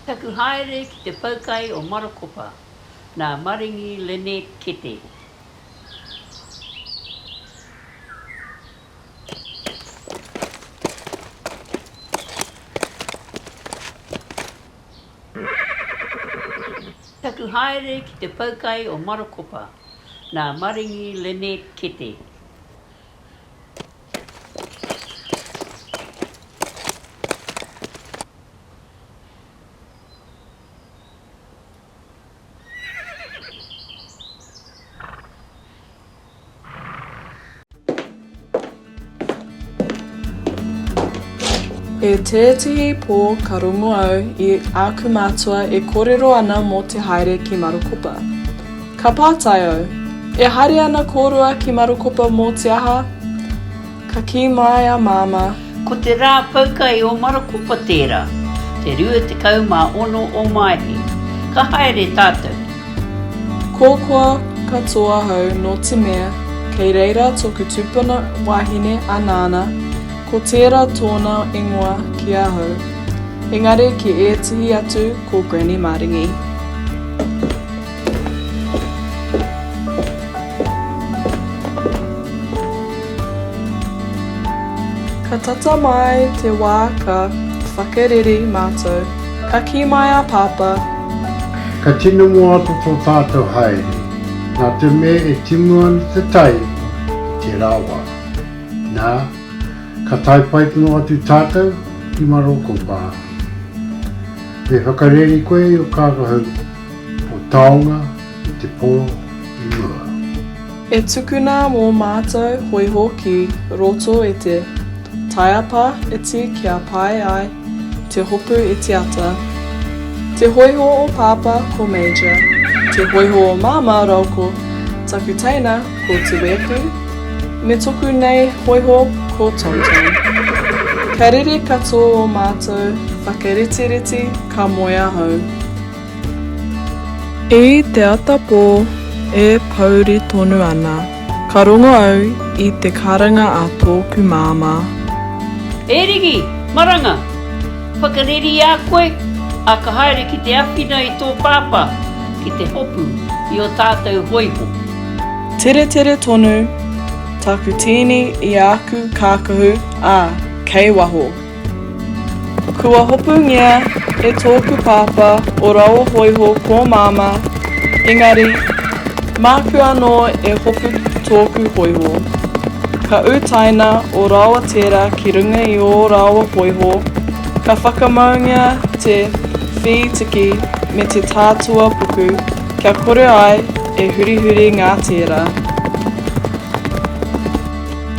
Taku haere ki te poukai o Marokopa nā Maringi Lynette Kete. Taku haere ki te poukai o Marokopa nā Maringi Lynette Kete. E tētehi pō ka rongo au i āku mātua e kōrero ana mō te haere ki Marokopa. Ka pātai au, E haere ana kōrua ki Marokopa mō te aha? Ka kī mai a Māmā. Ko te rā poukai o Marokopa tērā, te 26 o Maehe. Ka haere tātou. Kōkua katoa ahau nō te mea kei reira tōku tupuna wāhine a Nāna, ko tērā tōna ingoa ki ahau, engari ki ētehi atu ko Granny Maringi. Ka tata mai te wā ka whakareri mātou, ka kī mai a Pāpā. Ka tino moata tō tātou haere, nā te mea e timu ana te tai i tērā wā. Nā, ka tae pai tonu atu tātou ki Maroko Bar. Me whakareri koe i ō kākau, Ko taonga i te po i mua. E tukuna mo matou hoiho ki roto e te taiapa iti kia pae ai te hopu itiata. Te hoiho o papa ko Major, te hoiho o mama rau ko taku teina ko Tuepu, me toku nei hoiho ko Tonton. Ka rere kato o matou whakaritiriti ka moe ahau. I te ata pō e pōuri tonu ana, ka rongo au i te karanga a tōku māmā. E Rigi! Maranga! Whakareri i a koe, ā, ka haere ki te awhina i tō pāpā ki te hopu i ō tātou hōiho. Teretere tonu taku tīni i āku kākahu, ā, kei waho. Kua hopungia e tōku pāpā o Raohōiho kō māmā, engari, māku anō e hopu tōku hōiho. Ka utaina ō rāua tērā ki runga i ō rāua hōiho, ka whakamaungia te whītiki me te tātua puku kia kore ai e hurihuri ngā tērā.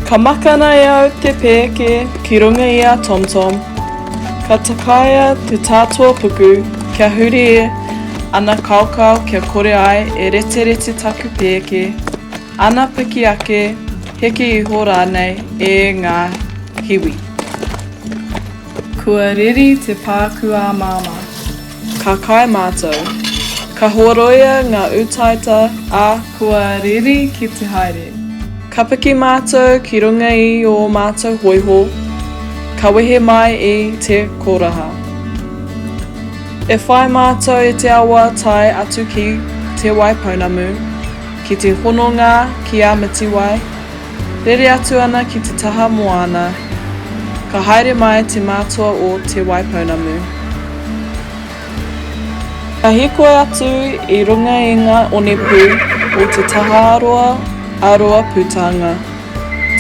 Ka makana e au te pēke ki runga i a TomTom. Ka takaia te tātua puku kia huri e ana kaokao kia kore ai e reterete taku pēke, ana piki ake, heke iho rānei e ngā hiwi. Kua reri te pāku ā māmā. Ka kai mātou. Ka horoia ngā utaita a. Kua riri ki te haere. Ka piki mātou ki runga i ō mātou hoiho, ka wehe mai i te koraha. E whai mātou i te awa tae atu ki Te Waipounamu ki te hononga ki a Mitiwai, Rere atu ana ki te taha moana, ka haere mai te mātua o Te Waipounamu. Ka hīkoi atu i runga i ngā onepū o te taha roa a Roa Pūtanga,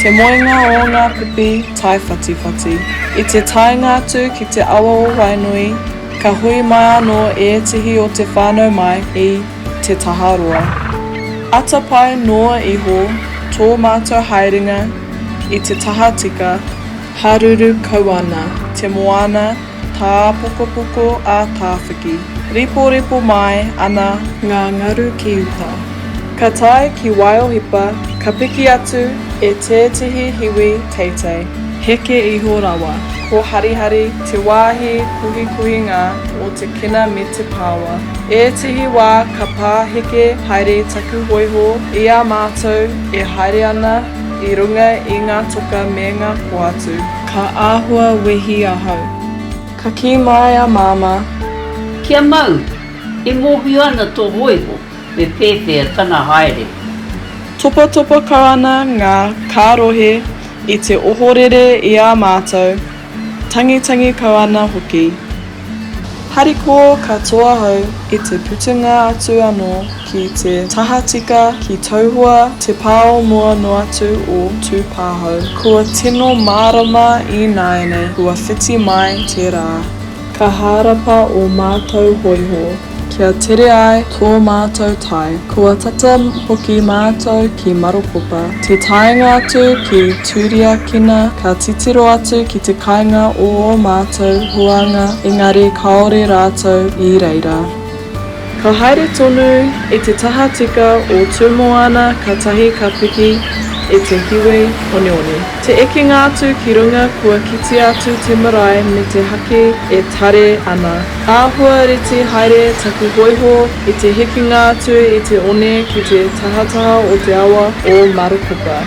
te moenga o ngā pipi taiwhatiwhati. I te taenga atu ki te awa o Wainui, ka hui mai anō ētehi o te whānau mai i. te taha roa. Atapae noa iho tō mātou haerenga i te taha tika, haruru kau ana te moana tāpokopoko a Tāwhiki. Reporepo mai ana ngā ngaru ki uta. Ka tae ki Waiohipa ka piki atu e tētehi hiwi teitei. Heke iho rawa. Ko Harihari te wāhi puhipuhinga o te kena me te paoa. Ētehi wā ka pāheke haere taku hōiho i a mātou e haere ana i runga i ngā toka me ngā poatu. Ka āhua wehi ahau. Ka kī mai a Māmā. Kia mau! E mōhio ana tō hōiho. Me pēpea tana haere. Topatopaka ana ngā kārohe i te ohorere i a mātou, tangitangi kau ana hoki. Harikoa katoa ahau i te putunga atu anō ki te tahatika ki Tauhoa te pā o mua noa atu o Tūpāhau. Kua tino mārama ināianei kua whiti mai te rā. Ka hārapa ō mātou hōiho. Kia tere ai tō mātou tai. Kua tata hoki mātou ki Marokopa. Te taenga atu ki Turiakina ka titiro atu ki te kainga o ō mātou huānga engari kāore rātou i reira. Ka haere tonu i te tahatika o Tūmoana katahi ka piki i te hiwi oneone. Te ekenga atu ki runga kua kitea atu te marae me te haki e tare ana. Āhua reti haere taku hoiho i te hekenga atu i te one ki te tahataha o te awa o Marokopa.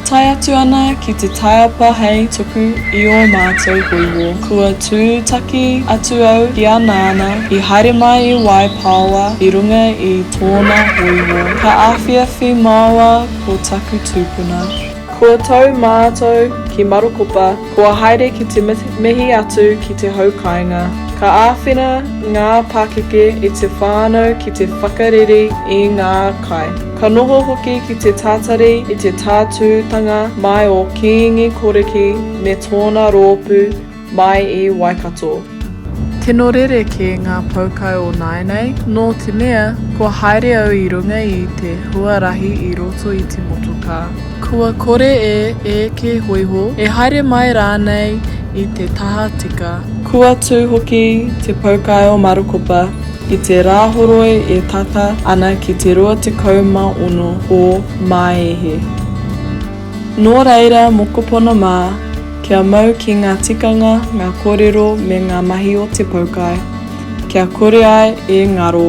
Tae atu ana ki te taiapa hei tuku i ō mātou hōiho. Kua tūtaki atu au ki a Nāna i haere mai i Waipāoa i runga i tōna hōiho. Ka awhiawhi māua ko taku tūpuna. Kua tau mātou ki Marokopa, kua haere ki te mihi atu ki te hau kāinga. Ka āwhina ngā pakeke i te whānau ki te whakareri i ngā kai. Ka noho hoki ki te tātari i te tātūtanga mai o Kiingi Koriki me tōna roopu mai i Waikato. Tino rereke ngā poukai o nāinei, nō te mea, kua haere au i runga i te huarahi i roto i te motokā, kua kore e eke hoiho, e haere mai rānei i te taha tika. Kua tū hoki te poukai o Marukopa. I te Rāhoroi e tata ana ki te 26 o Māehe. Nō reira mokopuna mā, kia mau ki ngā tikanga, ngā kōrero me ngā mahi o te poukai, kia kore ai e ngaro.